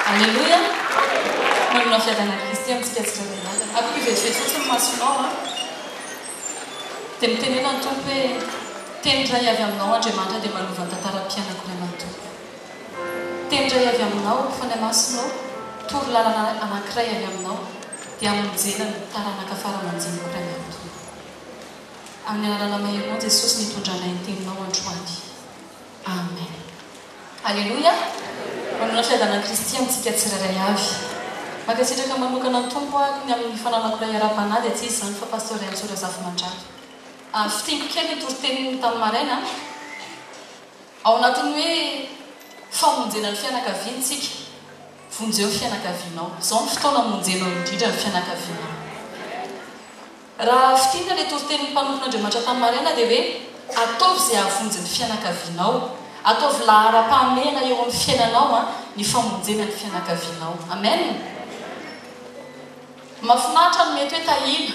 Aleloia! Manana fiadanan'i Kristy amintsika tsy tra-dalàna. Aoka hivetivety fotsiny ny masonao an! Dia mitenena ny Tompo hoe, Teny iray avy Aminao, Andriamanitra, dia manova ny tantaran'ny mpianako ry aman' Tompo. Teny iray avy Aminao, Fanahy Masina ô, toro lalana anankiray avy Aminao, dia hamonjena ny taranaka fara aman-jeniko ry aman' Tompo. Amin'ny anarana maherimao Jesosy nitondra anay ny teninao androany Amen Aleloia Manolotra fiadanan'i Kristy amintsika tsirairay avy Mankasitraka manokana ny Tompo aho ny amin'ny fananako ray ara-panahy dia tsy izy izany fa Pasteur Raintsoa Razafimandrava Ary fintiniko kely ny toriteniny tamin'ny maraina ao anatin'ny hoe famonjena ny fianakaviany tsika Vonjeo ny fianakavianao Izao ny fotoana amonjenao indrindra ny fianakavianao. Raha fintinina ilay toritenin'ny mpanompon'Andriamanitra tany maraina dia hoe, Ataovy izay hahavonjy ny fianakavianao. Ataovy laharam-pahamehana eo amin'ny fiainanao ny famonjena ny fianakavianao. Amen! Mahafinaritra ny mety hoe tahina.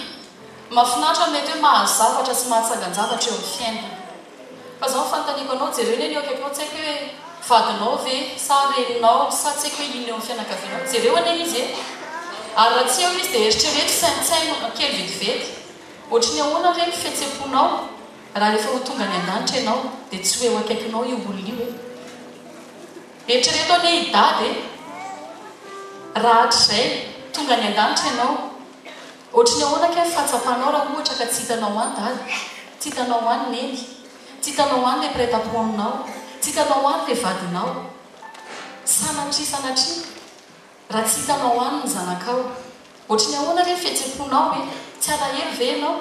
Mahafinaritra ny mety hoe mahazo zavatra sy mahatsangan-javatra eo amin'ny fiainana. Fa zao ny fanontaniako anao, jereo anie ny eo akaikinao, tsy haiko hoe vadinao ve sa reninao sa tsy haiko hoe inona eo amin'ny fianakavianao, jereo anie izy e! Ary raha tsy eo izy dia eritrereto, saintsaino kely vetivety, ohatry ny ahoana re ny fihetsem-ponao raha rehefa ho tonga any an-danitra ianao dia tsy ho eo akaikinao io olona io e! Eritrereto anie i Dada e! Raha hatrizay tonga any an-danitra ianao, Ohatry ny ahoana kay ny fahatsapanao raha ohatra ka tsy hitanao an dada? Tsy hitanao an neny? Tsy hitanao an le mpiretampo aminao? Tsy hitanao an le vadinao? Sanatria sanatria raha tsy hitanao an ny zanakao? Ohatry ny ahoana re ny fihetseponao e? Tsy alahelo ve ianao?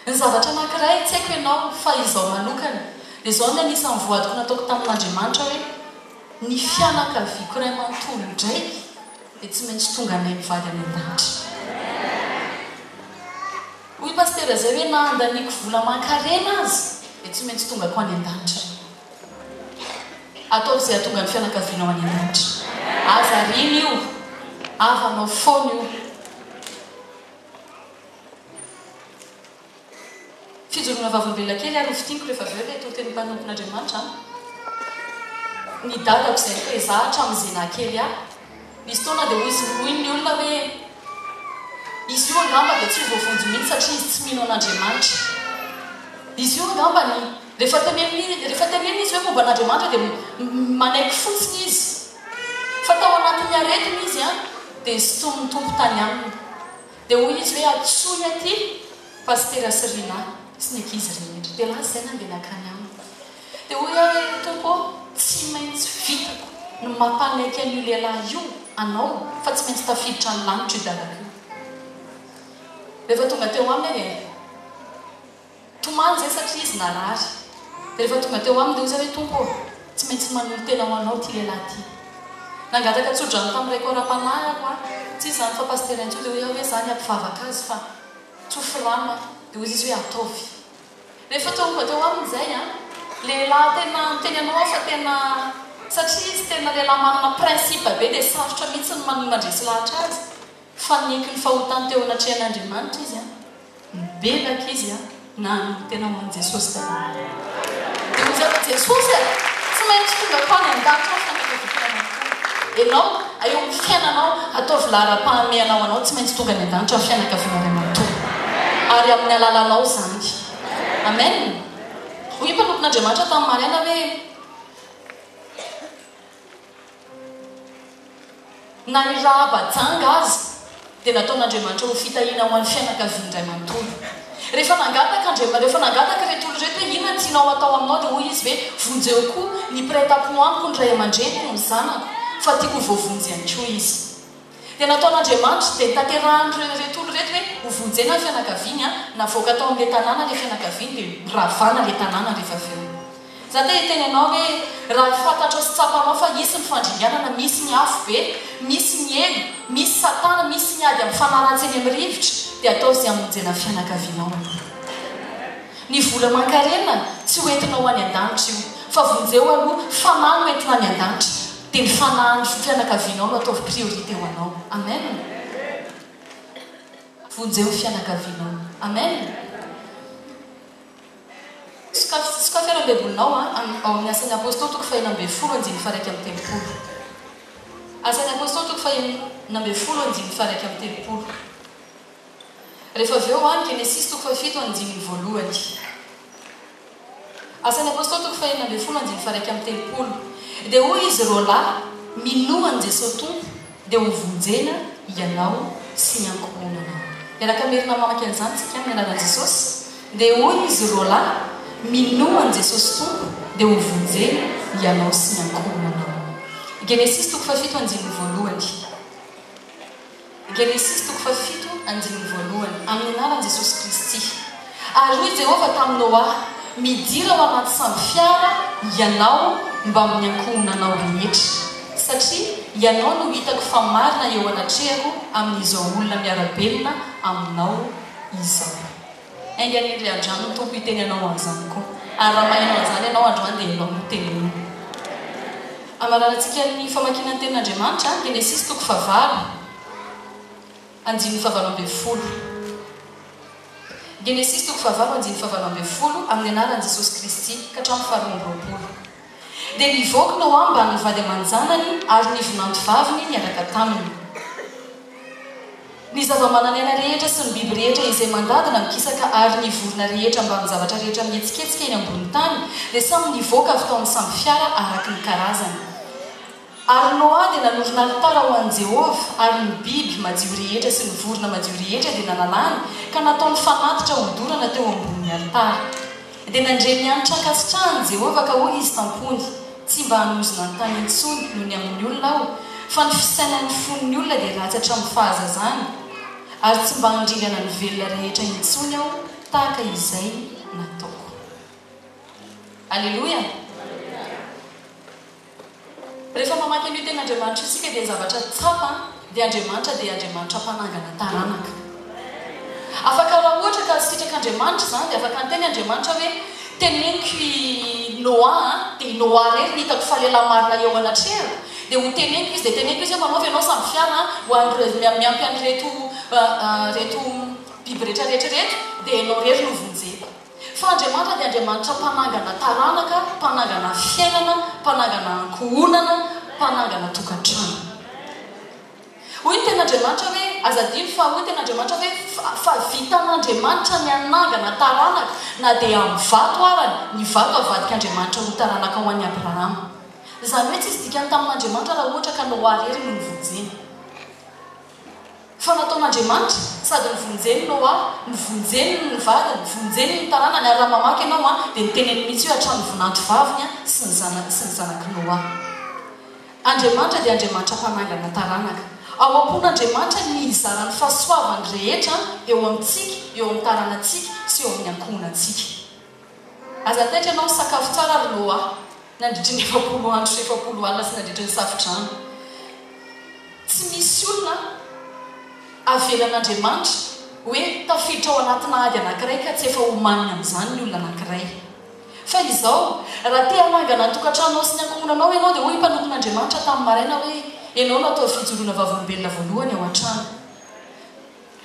Ny zavatra anankiray tsy haiko ianao fa izaho manokana dia izao ny anisan'ny voadiko nataoko tamin'Andriamanitra hoe ny fianakaviako iray manontolo indray dia tsy maintsy tonga anay mivady any an-danitra. Hoy i Pasitera izay hoe na andaniako vola aman-karena aza dia tsy maintsy tongako any an-danitra ianao. Ataovy izay hahatonga ny fianakavianao any an-danitra. Aza ariana io. Havanao foana io. Fijoroana vavolombelona kely ary ho fintiniko rehefa avy eo ilay toriteny mpanompon'Andriamanitra an! Ny dadako izay koa e, za hatramin'izay nahakely ahy, nisy fotoana dia hoy ny olona hoe izy io angamba dia tsy ho voavonjy mihitsy satria izy tsy mino an'Andriamanitra. Izy io angambany rehefa teneniny, rehefa tenenina izy hoe momba an'Andriamanitra dia manaiky fotsiny izy. Fa tao anatin'ny aretina izy an, dia sintomin'ny Tompo tany aminy. Dia hoy izy hoe antsoy aty Pasitera sy Rinah sy ny ankizy rehetra. Dia lasa izay nandeha nankany aminy. Dia hoy aho hoe Tompo ô, tsy maintsy vitako ny mampanaiky an'io lehilahy io Anao fa tsy maintsy tafiditra any lanitra io dalako io. Rehefa tonga teo aminy aho dia. Tomany izay satria izy narary. Dia rehefa tonga teo aminy dia hoy izy hoe, Tompo ô, tsy maintsy manolo-tena ho anao ity lehilahy ity. Nangataka tso-drano tamin'ny raiko ara-panahy aho ho'a, tsy izy izany fa pasitera intsony, dia hoy aho hoe, izaho ny hampivavaka azy fa tsofy rano aho. Dia hoy izy hoe, Ataovy. Rehefa tonga teo aminy izay an, lehilahy tena miteny anao aho fa tena, satria izy tena lehilahy manana principe be dia sarotra mihitsy ny mandresy lahatra azy. Fa niaiky ny fahotany teo anatrehan'Andriamanitra izy, nibebaka izy, na hanompo tena ho an'i Jesosy daholo. Dia hoy izy aho, Ry Jesosy a, tsy maintsy tonga ato any an-danitra aho fa nataovy fiainana tokoa Ianao, eo amin'ny fiainanao, ataovy laharam-pahamehana ho anao, tsy maintsy tonga any an-danitra aho, fianakaviana iray manontolo, ary amin'ny alalanao izany. Amen. Hoy ny mpanompon'Andriamanitra tamin'ny maraina hoe. Na ny rahaba janga aza dia nataon'Andriamanitra ho fitahiana ho an'ny fianakaviany iray manontolo. Rehefa nangataka Andriamanitra, rehefa nangataka ireto olona ireto hoe inona ny tianao hatao aminao dia hoy izy hoe vonjeo koa ny mpiray tampo amiko ny ray aman-dreniko, ny zanako, fa tiako ho voavonjy ihany koa izy. Dia nataon'Andriamanitra dia nitanterahan'ireo ireto olona ireto hoe ho vonjena ny fianakaviany an, navoaka tao amin'ilay tanàna ilay fianakaviany dia noravana ilay tanàna rehefa avy eo. Za te hiteny anao hoe raha fantatrao sy tsapanao fa hisy ny fandringanana, misy ny afobe, misy ny helo, misy satana, misy ny ady mifanaratsy eny amin'ny rivotra dia ataovy izay hamonjena ny fianakavianao aloha. Ny vola aman-karena tsy ho entinao any an-danitra io fa vonjeo aloha fanahy no entina any an-danitra. Dia ny fanahin'ny fianakavianao no ataovy priorité ho anao. Amen. Vonjeo ny fianakavianao. Amen. Sokafy, sokafy ary ny baibolinao an, ao amin'ny Asan'ny Apostoly toko fahenina ambin'ny folo andininy faharaika amby telopolo. Asan'ny Apostoly toko fahenina ambin'ny folo andininy faharaika amby telopolo. Rehefa avy eo any Genesisy toko fahafito andininy voalohany. Asan'ny Apôstôly toko fahenina ambin'ny folo andininy faha iraika amby telopolo. Dia hoy izy roalahy, Minoa an'i Jesosy Tompo, dia hovonjena ianao sy ny ankohonanao. Miaraka merina mamaky an'izany isika amin'ny anaran'i Jesosy. Dia hoy izy roalahy, Minoa an'i Jesosy Tompo, dia hovonjena ianao sy ny ankohonanao. Genesisy toko fahafito andininy voalohany. Genesisy toko fahafito andininy voalohany, Amin'ny anaran'i Jesosy Kristy, ary hoy Jehovah tamin'i Noa, Midira ao anaty sambo fiara ianao mbamin'ny ankohonanao rehetra, satria ianao no hitako fa marina eo anatrehako amin'izao olona miara-belona aminao izao. Enga anie ndry andriano ny Tompo hiteny anao an'izany koa. Ary raha maheno an'izany ianao androany dia ianao no tenenina. Amararantsika ny famakiana ny Tenin'Andriamanitra, Genesisy toko fahavalo, andininy fahavalo ambin'ny folo. Genesisy toko fahavalo andininy fahavalo ambin'ny folo, amin'ny anaran'i Jesosy Kristy, ka hatramin'ny faharoa amby roapolo. Dia nivoaka tao ambany ny vady aman-janany ary ny vinantovaviny niaraka taminy. Ny zavamananaina rehetra sy ny biby rehetra izay mandadina mikisaka ary ny vorona rehetra mbamin'ny zavatra rehetra mihetsiketsika eny ambonin'ny tany dia samy nivoaka avy tao amin'ny sambo fiara araka ny karazany. Ary Noa dia nanorina alitara ho an'i Jehovah, ary ny biby madio rehetra sy ny vorona madio rehetra dia nanalany ka nataony fanatitra odorana teo ambonin'ny alitara. Dia nandre ny hanitra ankasitrahan'i Jehovah, ka hoy izy tam-pony, Tsy mba hanozona ny tany intsony noho ny amin'ny olona aho, fa ny fisainan'ny fon'ny olona dia ratsy hatramin'ny fahazazany, ary tsy mba handringana ny velona rehetra intsony aho tahaka izay nataoko. Aleloia! Rehefa mamaky an'io teny Andriamanitra io isika dia ny zavatra tsapa dia Andriamanitra dia Andriamanitra mpanangana taranaka. Afaka raha ohatra ka sitrak'Andriamanitra izany dia afaka niteny Andriamanitra hoe teneniko i Noa a, dia i Noa irery no hitako fa lehilahy marina eo anatrehako, dia ho teneniko izy, dia teneniko izy hoe manaova ianao sambofiara ho an'ireo, miampy an'ireto ireto biby rehetra rehetra ireto, dia ianao irery no vonjeko. Fa Andriamanitra dia Andriamanitra mpanangana taranaka, mpanangana fiainana, mpanangana ankohonana, mpanangana tokantrano. Hoy ny Tenin'Andriamanitra hoe, aza adino fa hoy ny Tenin'Andriamanitra hoe, Fa vitan'Andriamanitra ny hanangana taranaka, na dia amin'ny vato ara, ny vato havadik'Andriamanitra ho taranaka ho an'i Abrahama. Izany hoe tsy hisy dikany tamin'Andriamanitra raha ohatra ka Noa irery no novonjena. Fa nataon'Andriamanitra, sady novonjeny Noa, novonjeny ny vadiny, vonjeny ny taranany, ary raha mamaky ianao an, dia ny teniny mihitsy hoe hatramin'ny vonanto vaviny an, sy ny zanany sy ny zanak'i Noa. Andriamanitra dia Andriamanitra mpanangana taranaka. Ao am-pon'Andriamanitra ny hizara ny fahasoavany rehetra eo amintsika, eo amin'ny taranantsika, sy eo amin'ny ankohonantsika. Aza taitra ianao, sakafo tsara ry Noa nandritry ny efapolo andro sy efapolo alina sy nandritry ny Safodrano. Tsy misy olona avelan'Andriamanitra hoe tafiditra ao anatina ady anankiray ka tsy efa omaniny amin'izany ny olona anankiray. Fa izao, raha te hanangana ny tokantranonao sy ny ankohonanao ianao dia hoy ny mpanompon'Andriamanitra tamin'ny maraina hoe, Ianao no atao fijoroana vavolombelona voalohany ao an-trano.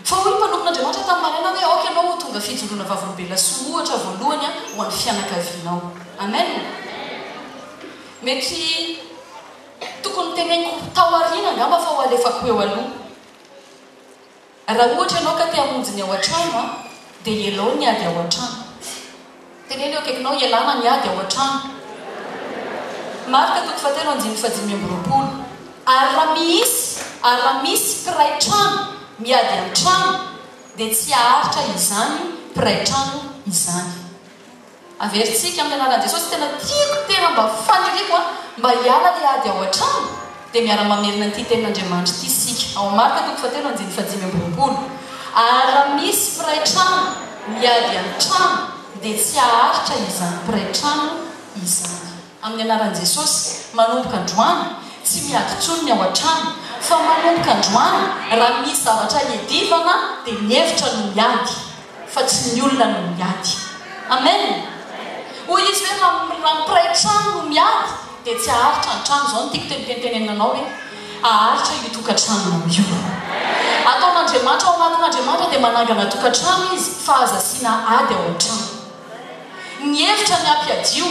Fa hoy ny mpanompon'Andriamanitra tamin'i Mariana hoe, Aoka ianao ho tonga fijoroana vavolombelona sy ohatra voalohany ho an'ny fianakavianao. Amen! Mety tokony noteneniko tao aoriana angamba fa ho alefako eo aloha. Raha ohatra ianao ka te hamonjy ny ao an-trano, dia ialao ny ady ao an-trano. Teneno eo akaikinao, Ialana ny ady ao an-trano. Marka toko fahatelo andininy fahadimy amby roapolo. Ary raha miisy, ary raha misy mpiray trano miady an-trano, dia tsy haharitra izany mpiray trano izany. Averintsika amin'ny anaran'i Jesosy, tena tiako, tena mba faniriako an, mba hiala ilay ady ao an-trano. dia miara-mamerina ity tenin'Andriamanitra ity isika ao Marka toko fahatelo andininy fahadimy amby roapolo, Ary raha misy mpiray trano miady an-trano, dia tsy haharitra izany mpiray trano izany. Amin'ny anaran'i Jesosy, manomboka androany, tsy miady intsony ny ao an-trano, fa manomboka androany, raha misy zavatra iadivana, dia mihevitra ny miady. fa tsy ny olona no miady. Amen! Hoy izy hoe raha ny mpiray trano no miady dia tsy haharitra ny trano. Izao no tiako tenitentenenina anao hoe haharitra io tokantranonao io. Ataon'Andriamanitra ao anatin'Andriamanitra dia manangana tokantrano izy fa aza asiana ady ao an-trano. Ny hevitra ny hampiadio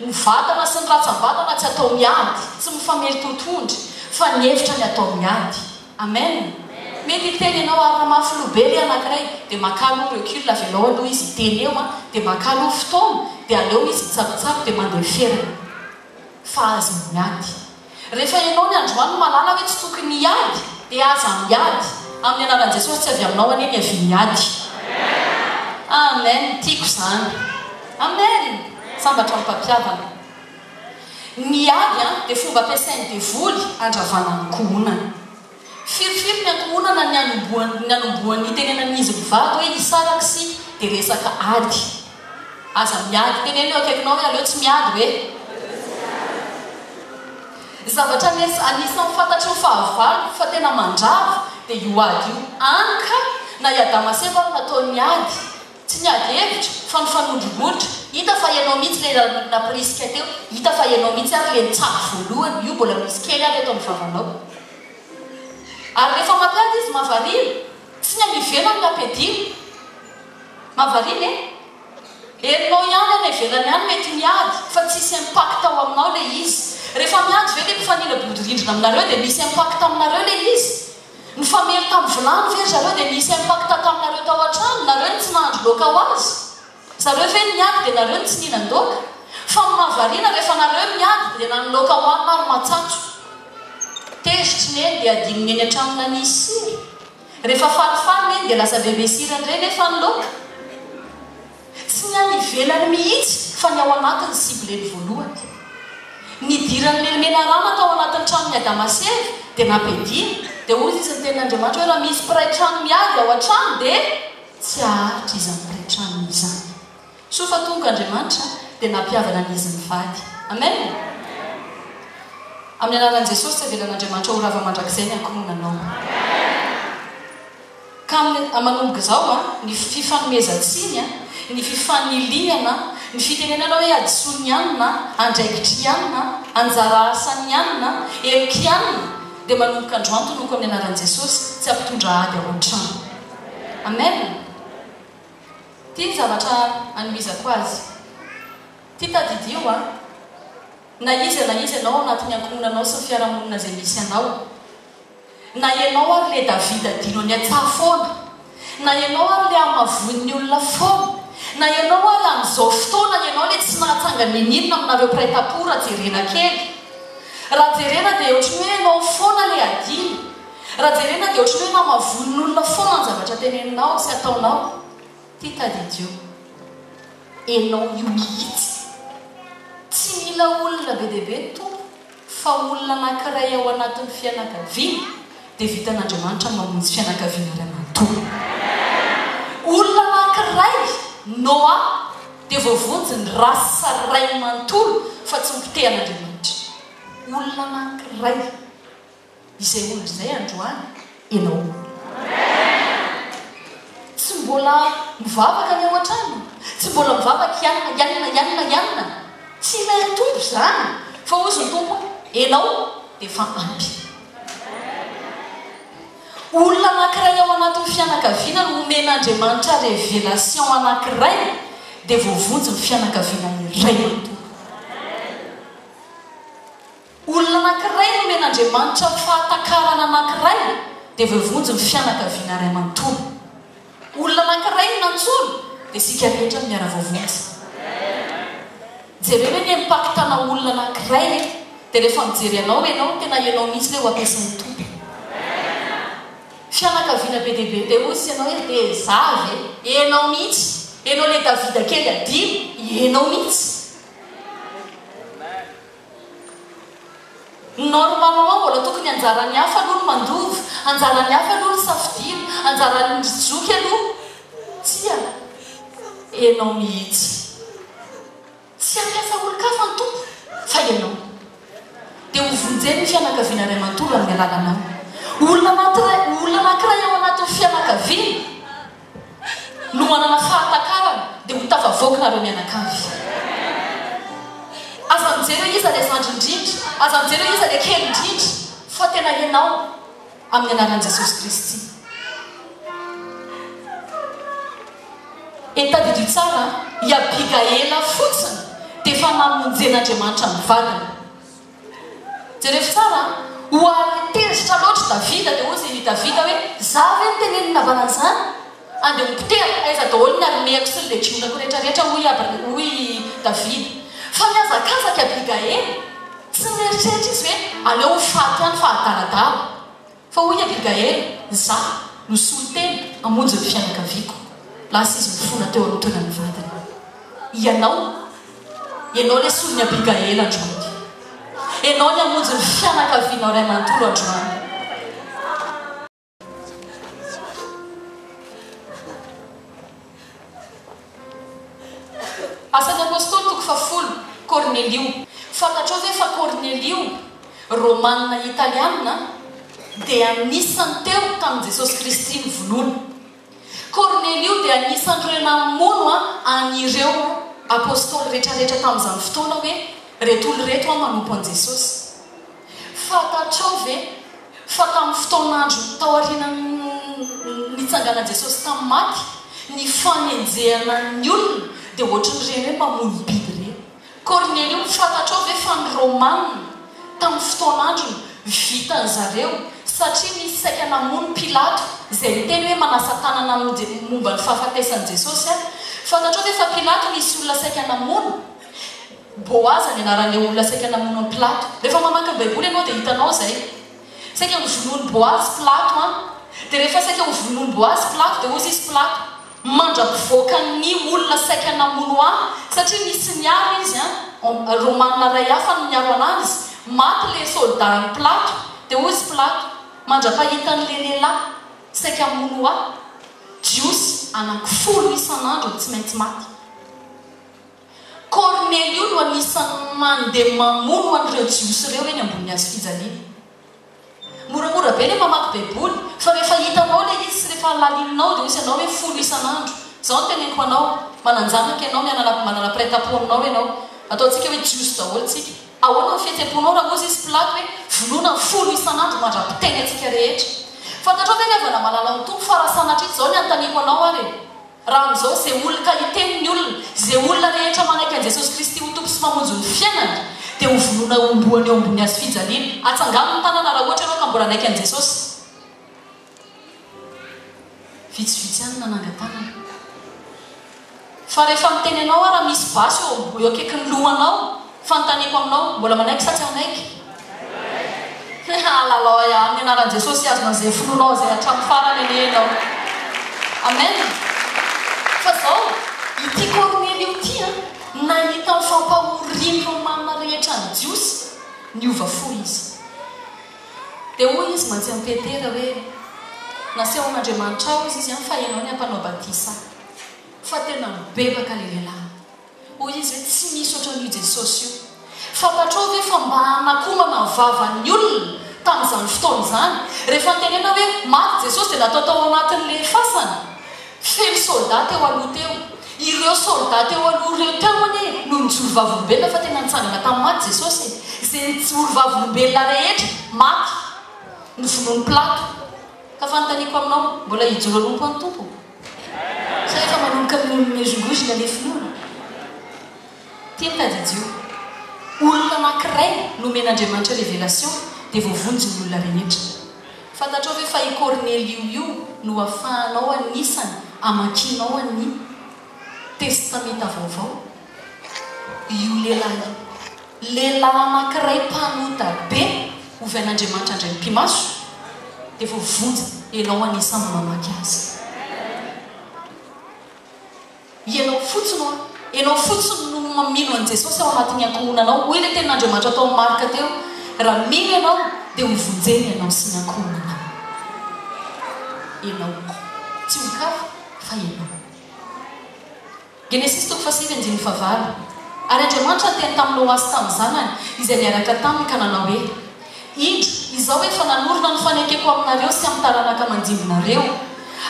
ny vatana sy ny ratsambatana tsy atao miady, tsy mifamely totohondry fa ny hevitra ny atao miady. Amen! Mety hiteny ianao ary raha maha filoha be le anakiray dia makà aloha recul avelao aloha izy hiteny eo an! dia makà aloha fotoana dia aleo izy mitsabotsaboka dia mandeha ferana fa aza miady rehefa ianao ny androany mahalala hoe tsy tokony hiady dia aza miady amin'ny anaran'i Jesosy tsy avy aminao anie ny havian'ny ady Amen! Tiako izany Amen! Sambatra amim-pampihavana. Ny ady dia fomba ampiasain'ny devoly handravana ny ankohonana. Firifiry ny ankohonana ny anombohan'ny nitenenan'izy mivady hoe hisaraka isika dia resaka ady. Aza miady, teneno eo akaikinao hoe aleo tsy miady hoe. Zavatra anisan'ny fantatry ny fahavaloko fa tena mandrava dia io ady io. Any kay, na i Adama sy Eva ary nataony ady. Tsy miady hevitra fa mifanondrongondra, hita fa ianao mihitsy le nampirisika teo, hita fa ianao mihitsy ary le nitsabo voalohany, io mbola misy kely ary eto amin'ny vavanao. Ary rehefa mampiady izy mahavariana, tsy ny any ivelany no ampiadiana. Mahavariana e! Herinao ihany any ivelany any mety miady fa tsisy impact ao aminao le izy. Rehefa miady ve le mpifanila bodirindrina aminareo de misy impact aminareo le izy? Nifamely tamin'ny vilany ve ry zareo dia nisy impact taminareo tao an-trano? Nareo no tsy nahandro laoka ho azy? Zareo ve no niady dia nareo no tsy nihinan-daoka? Fa ny mahavariana rehefa nareo no niady dia na ny laoka hohanina ary matsatso. Tezitry neny dia adinony eny an-trano nanisy sira. Rehefa falifaly neny dia lasa bebe sira indray nefa ny laoka. Tsy ny any ivelany mihitsy fa ny ao anaty ny cible-ny voalohany. Nidiran'i Lelmena Rama tao anatin'ny tranon'i Adama sy Eva dia nampiadiana, dia hoy izy ny tenin'Andriamanitra hoe raha misy mpiray trano miady ao an-trano dia tsy haharitra izany mpiray tranony izany. Soa fa tonga Andriamanitra dia nampihavana ny izy mivady. Amen! Amin'ny anaran'i Jesosy tsy avelan'Andriamanitra ho rava mandrakizay ny ankohonanao. Ka manomboka izao ny fifanomezan-tsiny, ny fifanilihana, ny fitenenana hoe hadisoan'ny anona, andraikitr'i anona, anjara asan'ny anona, heloky anona, dia manomboka andro antonoko amin'ny anaran'i Jesosy, tsy hampitondra ady ao an-trano. Amen. Ity ny zavatra anohizako azy. Ity tadidio a. Na iza na iza ianao ao anatin'ny ankohonanao sy ny fiarahamonina izay misy anao. Na ianao ary le David adino any an-tsaha foana, na ianao ary le hamavoin'ny olona foana, na ianao ary amin'izao fotoana ianao le tsy nahatsanga n'inon'inona aminareo mpiray tampo raha jerena kely. Raha jerena dia ohatry ny hoe ianao foana le adino. Raha jerena dia ohatry ny hoe namavoin'olona foana ny zavatra teneninao sy ataonao. Ty tadidio. Ianao io mihitsy. Tsy mila olona be dia be ny Tompo. fa olona anankiray ao anatin'ny fianakaviana dia vitan'Andriamanitra mamonjy fianakaviana iray manontolo. Olona anankiray, Noa, dia voavonjy ny race rainy manontolo fa tsy ho potehan'Andriamanitra. Olona anankiray. Izay omby izay androany enao. Amen! Tsy mbola mivavaka ny ao an-trano? Tsy mbola mivavaka ianona, ianona, ianona, ianona? Tsy ilain'ny Tompo izany, fa hozy ny Tompo, enao dia efa ampy. Olona anankiray ao anatin'ny fianakaviana no omen'Andriamanitra révélation anankiray dia voavonjy ny fianakaviana iray manontolo. Olona anankiray nomen'Andriamanitra ho fahatakarana anankiray dia voavonjy ny fianakaviana iray manontolo. Olona anankiray no nantsoina dia isika rehetra no miara-voavonjy. Jereo anie ny pacte-na olona anankiray e! Dia rehefa mijery anao ianao, tena ianao mihitsy ilay ho ampiasain'ny Tompo. Fianakaviana be dia be dia hoy ianao hoe dia za ve? Ianao mihitsy! Ianao ilay Davida kely adino, ianao mihitsy! Normalement mbola tokony anjaran'ny hafa aloha ny mandova, anjaran'ny hafa aloha ny safidiana, anjaran'ny ry joky aloha Tsia enao mihitsy Tsy hampiasa olon-kafa ny Tompo fa ianao Dia ho vonjen'ny fianakaviana iray manontolo amin'ny alalanao Olona anankiray ao anatin'ny fianakaviana no manana fahatakarana dia ho tafavoaka nareo mianakavy. Aza mijery hoe iza ilay zandry indrindra, aza mijery hoe iza ilay kely indrindra fa tena ianao amin'ny anaran'i Jesosy Kristy. Et tadidio tsara an, i Abigaela fotsiny dia efa namonjen'Andriamanitra ny vadiny. Jereo tsara a! Ho ary tezitra loatra Davida dia hozy i Davida hoe, Izaho ve no teneniny navahana an'izany? Andeha hopotehako, aiza daholo ny armeako sy ny legionako rehetrarehetra? hoy i Abner, hoy i Davida. Fa nihazakazaka i Abigaila. Tsy nieritreritra izy hoe, Aleo ho faty ihany fa hadaladala. Fa hoy Abigaela, Izaho no solontena hamonjy ny fianakaviako. Lasa izy mifona teo amin'ny toeran'ny vadiny. Ianao? Ianao ilay solon'i Abigaela androany. Ianao ny hamonjy ny fianakavianao iray manontolo androany. Asan'ny Apôstôly toko fahafolo, Kornelio. Fantatrao ve fa Kornelio, Rômanina Italiana, dia anisan'ny teo tamin'i Jesôsy Kristy novonoina. Kornelio dia anisan'ireo namono an'ireo Apôstôly retraretra tamin'izany fotoana hoe, Reto olo reto manompo an'i Jesôsy. Fantatrao ve. Fa tamin'ny fotoan'andro taorianan'ny nitsanganan'i Jesosy tamin'ny maty, ny fanenjehana ny olona dia hoatran'ireny hoe mamono biby ireny. Kornelio, fantatrao ve fa ny Romana tamin'ny fotoan'androny vitan'i zareo satria nisy saika namono Pilato izay niteny hoe manasa tanana momba ny fahafatesan'i Jesosy aho. Fantatrao ve fa Pilato nisy olona saika namono? Boaza ny anaran'ilay olona saika namono an'i Pilato. Rehefa mamaky ny Baiboly ianao dia hitanao izay. Saika novonoin'i Boazy Pilato an! Dia rehefa saika hovonoin'i Boazy Pilato dia hozy izy Pilato, Mandra-pivoakan'ny olona saika namono ahy, satria nisy niaro izy an! Romana iray hafa no niaro anazy. Maty ilay soldat an'i Pilato, dia hozy Pilato, Mandra-pahitan'ilay lehilahy saika hamono ahy, Jiosy anankifolo isan'andro no tsy maintsy maty. Kornelio no anisan'ny mandeha mamono an'ireo Jiosy ireo eny ambonin'ny hazo fijaliana. Moramora be ilay mamaky Baiboly, fa rehefa hitanao ilay izy sy rehefa halalininao, dia hoy ianao hoe, Folo isan'andro. Izao no teneniko anao, Manan-janaka ianao, mianana, manana mpiray tampo aminao ianao. Ataontsika hoe Jiosy daholo isika. Ahoana ny fihetseham-ponao raha hoy izy Pilato hoe, Vonoina folo isan'andro mandra-piteny antsika rehetra? Fantatrao ve ry havana malala ao amin'ny Tompo, fa raha sanatria izao ny anontaniako anao ary e? Raha amin'izao ze olona ka hiteny ny olona, ze olona rehetra manaiky an'i Jesosy Kristy ho Tompo sy Mpamonjy ny fiainany dia ho vonoina homboany eo ambony hazo fijaliana. Atsangano ny tanana raha ohatra ianao ka mbola hanaiky an'i Jesosy. Vitsivitsy ihany ny nananga tanana. Fa rehefa miteny anao aho raha misy basy eo akaikin'ny lohanao Fanontaniako aminao, mbola manaiky sa tsy hanaiky? Hahalalao ahy amin'ny anaran'i Jesosy sy azonao izay finoanao izay hatramin'ny farany anie ianao. Amen. Fa izao, ity Kornelio ity an, nahita ny fampahorian'ny Romana rehetra ny Jiosy, niova fo izy. Dia hoy izy mantsy an'i Petera hoe, Nasehon'Andriamanitra aho hozy izy an, fa ianao ny hampanao batisa ahy. Fa tena nibebaka ilay lehilahy. Hoy izy hoe, Tsy misy ohatran'io i Jesosy io. Fantatrao ve fa mba hanakomana ny vavan'ny olona tamin'izany fotoana izany? Rehefa notenenina hoe maty Jesosy dia natao tao anatin'ilay fasana feno soldats teo aloha teo. Ireo soldats teo aloha ireo teo anie no nijoro vavolombelona fa tena nitsangana tamin'ny maty Jesosy e! Izay nijoro vavolombelona rehetra maty novonoin'i Pilato. Ka fanontaniako aminao, mbola hijoro hanompo an'i Tompo? Sa efa manomboka mimezongozona le finoana? Teny tadidio, olona anankiray no omen'Andriamanitra révélation dia voavonjy ny olona rehetra. Fantatrao ve fa i Kornelio io no afahanao anisany amakianao ny Testamenta Vaovao? io lehilahy io. Lehilahy anankiray mpanota be ovy an'Andriamanitra indray mipi-maso dia voavonjy. Ianao anisan' ny mamaky azy. Ianao fotsiny hoa, ianao fotsiny no mamino an'i Jesosy ao anatin'ny ankohonanao. Hoy ilay tenin'Andriamanitra tao amin'ny Marka teo, Raha mino ianao dia ho vonjena ianao sy ny ankohonanao. Ianao. Tsy ho kafa fa ianao. Genesisy toko fahasivy andininy fahavalo Ary Andriamanitra niteny tamin'i Loasy tamin'ny zanany izay niaraka taminy ka nanao hoe, Indro, izao efa nanorina ny fanekeko aminareo sy amin'ny taranaka mandimbinareo.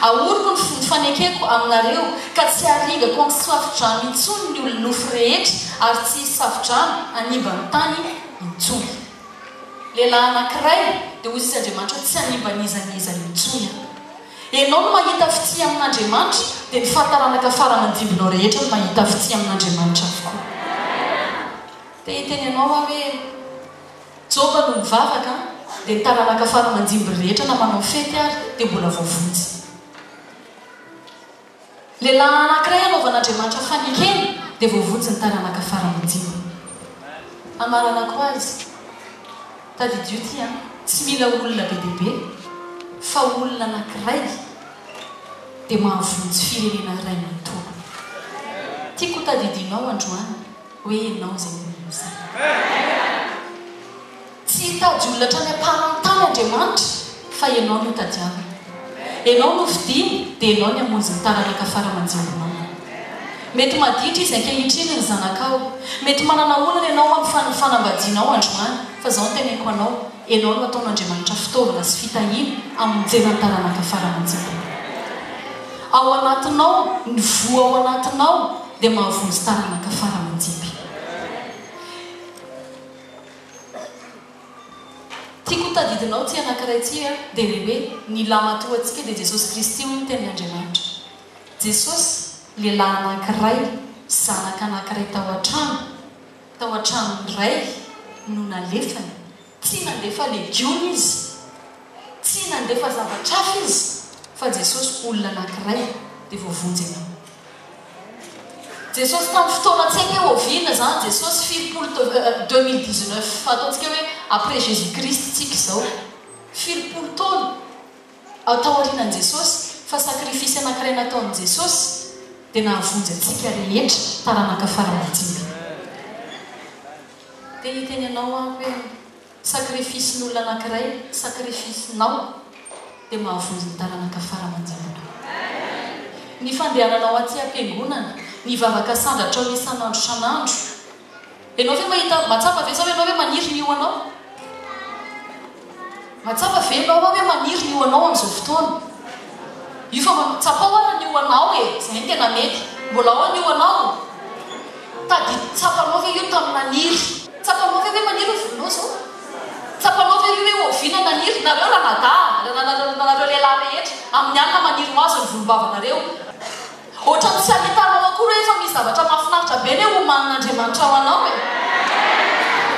Ahoriko ny ny fanekeko aminareo ka tsy harigako amin'ny safo-drano intsony ny olon-nofo rehetra ary tsy hisy safo-drano hanimba ny tany intsony. Lehilahy anankiray, dia hoy izy Andriamanitra, tsy hanimba n'iza n'iza intsony aho. Ianao no mahita fitia amin'Andriamanitra, dia ny fahataranaka farany andimbinao rehetra no mahita fitia amin'Andriamanitra avokoa. Te hiteny anao aho hoe, Joba no nivavaka, dia ny taranaka farany andimbiny rehetra na manao fety ary dia mbola voavonjy. Lehilahy anankiray hanaovan'Andriamanitra fanekena dia voavonjy ny taranaka faran'ny dimy. Amaranako azy, tadidio ity an, tsy mila olona be dia be fa olona anankiray dia mahavonjy firenena iray manontolo. Tiako ho tadidinao androany hoe ianao izay olona izay. Tsy hitady olona hatrany am-paran'ny tany Andriamanitra fa ianao no hotadiaviny. Ianao no hofidiany dia ianao ny hamonjy ny taranaka fara aman-jimbinao. Mety maditra izy ankehitriny ny zanakao, mety manana olana ianao amin'ny fanambadianao androany fa izao no teneniko anao, ianao no hataon'Andriamanitra fitaovana sy fitahiana hamonjena ny taranaka fara aman-jimbinao. Ao anatinao, ny voa ao anatinao dia mahavonjy taranaka fara aman-jimbina. Tiako ho tadidinao tsy anankiray tsy a dia ilay hoe ny lahimatoa antsika dia Jesosy Kristy hoy ny Tenin' Andriamanitra. Jesosy, lehilahy anankiray, zanak' anankiray tao an-trano, tao an-tranon' ny Rainy no nalefany. Tsy nandefa legiona Izy, tsy nandefa zavatra hafa Izy, fa Jesosy olona anankiray. Dia voavonjy ianao. Jesosy tamin'ny fotoana tsy haiko hoe oviana izany Jesosy firimpolo teo deux mille dix neuf fa ataontsika hoe après jesus christ tsika izao firimpolo taona ah taorianan'i jesosy fa sacrifice anakiray nataon'i jesosy dia nahavonjy antsika rehetra taranaka fara majimby dia hiteny anao aho hoe Sacrifice ny olona anakiray sacrifice nao dia mahavonjy ny taranaka fara aman-janaka. Ny fandehananao aty am-piangonana, ny vava kasandratrao isan'andro isan'andro, enao ve mahita, mahatsapa ve zao enao hoe maniry ny ho anao? Mahatsapa ve enao hoe maniry ny ho anao amin'izao fotoana? Io fa tsapao ara ny ho anao e, zay no tena mety. Mbola ao ny ho anao? Tadidy tsapanao ve io tamin'i Maniry? Tsapanao ve hoe Maniry novoninao zao? Tsapanao ve ry hoe oviana Naniry? Nareo Ramada, nareo lehilahy rehetra, amin'ny alina maniry ho azy ny volombavanareo. Ohatran'ny tsy ahitanao akory hoe efa misy zavatra mahafinaritra be ny hoe homanin'Andriamanitra ho anao e!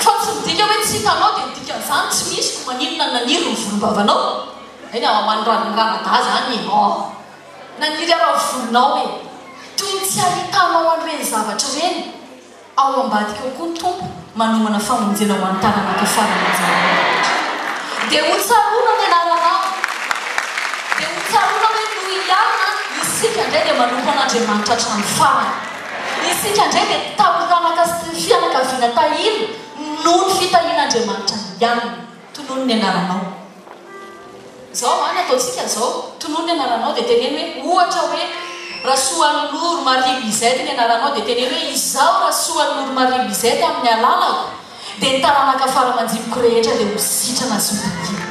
Fa tsy midika hoe tsy hitanao dia ny dikan'izany tsy misy ko maninona Naniry ny volombavanao? Eny aho, ho an'i Ramada izany e! Naniry hanao volonao e! Toy ny tsy ahitanao an'ireny zavatra ireny ao ambadika ao koa ny Tompo manomana famonjena ho an'ny taranaka farany amin'izany andro rehetra. Dia ho tsaroana ny anaranao. Dia ho tsaroana hoe noho hiana isika indray dia manompo an'Andriamanitra hatramin'ny farany. Isika indray dia taranaka sy fianakaviana tahiana noho ny fitahian'Andriamanitra hiana. Tonony ny anaranao. Izao an, ny ataontsika izao, tonony ny anaranao dia teneno hoe, ohatra hoe, Rasoaniloro Marie Lisette ny anaranao dia teneno hoe, izaho Rasoaniloro Marie Lisette amin'ny alalako dia ny taranaka fara aman-jiniko rehetra dia ho sitrana sy ho takiana.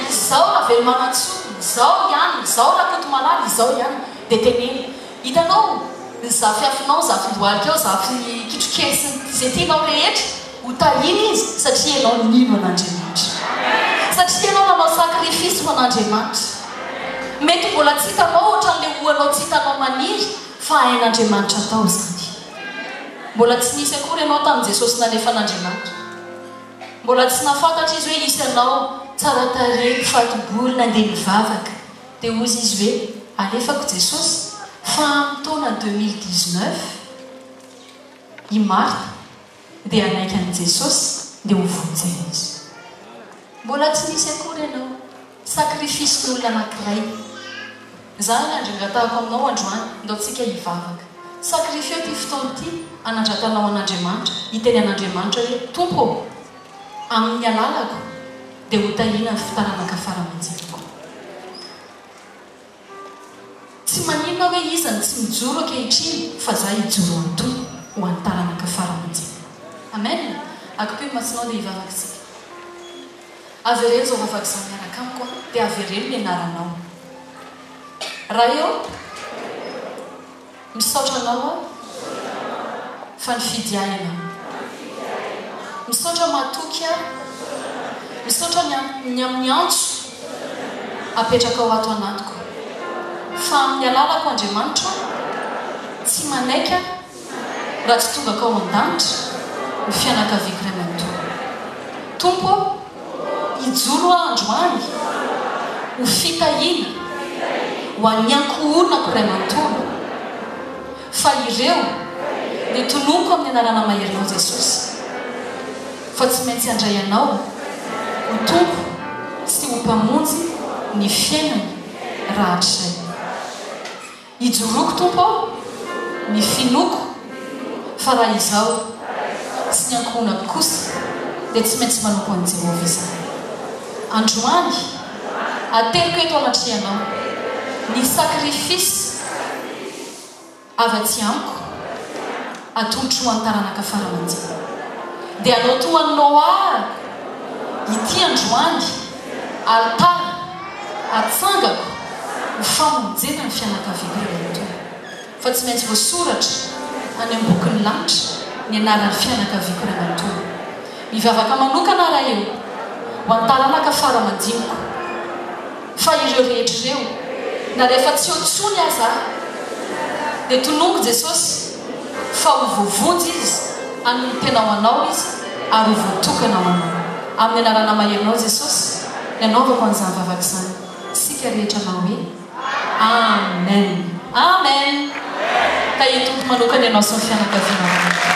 Izaho Ravelomanantsoa, izaho ihany, izaho Rakotomalala, izaho ihany. Dia teneno. Hitanao? Ny zafiafinao, ny zafindohalikao, zafin'ny kitrokely sy ny izay tianao rehetra. Ho tahiana izy satria ianao nino an'Andriamanitra. Satria ianao nanao sacrifice ho an'Andriamanitra. Mety mbola tsy hitanao ohatran'ilay ohanao tsy hitanao maniry fa hain'Andriamanitra atao izany. Mbola tsy nisy akory ianao tamin'i Jesosy nalefan'Andriamanitra. Mbola tsy nahafantatra Izy hoe hisy anao tsara tarehy, fato-bolo, nandeha nivavaka. Dia hozy Izy hoe, alefako Jesosy fa amin'ny taona deux mille dix-neuf, i Martha, dia hanaiky an'i Jesosy dia ho vonjena izy. Mbola tsy nisy akory ianao, sakrifisin'olona anankiray. Zany ny andrangatahako aminao androany, ndao tsika hivavaka. Sakrifio ity fotoana ity anandratanao an'Andriamanitra, hiteny an'Andriamanitra hoe, Tompo ô, amin'ny alalako dia ho tahiana ny fitaranaka fara-manjiriko. Tsy maninona hoe iza no tsy mijoro ankehitriny fa za hijoro hanontolo ho an'ny taranaka farany anjara. Amen! Akipio ny masonao dia hivavaka isika. Avereno izao vavaka izao miaraka amiko an! Dia avereno ny anaranao. Raha eo. Misaotra anao aho fa nifidy ahy ianao Misaotra mahatoky ahy Misaotra ny amin'ny amin'ny antso apetrakao ato anatiko Fa amin'ny alalako Andriamanitra Tsy manaiky aho raha tsy tongakao an-danitra Ny fianakaviako iray manontolo Tompo ô Hijoro Aho androany ho fitahiana ho an'ny ankohonako iray manontolo, fa ireo no tononiko amin'ny anarana maherinao Jesosy, fa tsy maintsy handray Anao ho Tompo sy ho Mpamonjy ny fiainany rahatrizay. Ijoroako Tompo ao, ny finoako, fa raha izaho sy ny ankohonako kosa dia tsy maintsy manompo an'i Jehovah izahay. Androany, ateriko eto anatrehanao ny sakrifisy avy atsy amiko. Atolotro ho an'ny taranaka fara aman-janako. Dia hanao toa an'i Noa arako, ity androany, alitara atsangako ho famonjena ny fianakaviako iray matoa. Fa tsy maintsy voasoratra any amin'ny bokin'ny lanitra ny anaran'ny fianakaviako iray manontolo. Mivavaka manokana aho raha eo, ho an'ny taranaka fara aman-jiniko. Fa ireo rehetra ireo, na rehefa tsy eo intsony aza, dia tonongo Jesosy fa ho voavonjy Izy, hanompo-tena ho Anao Izy ary ho voatokana ho Anao. Amin'ny Anarana maherinao Jesosy, nanaovako an'izany vavaka izany. Isika rehetra hanao hoe, Amen! Amen! Ka i Tompo manokana ianao sy ny fianakavianao rehetra.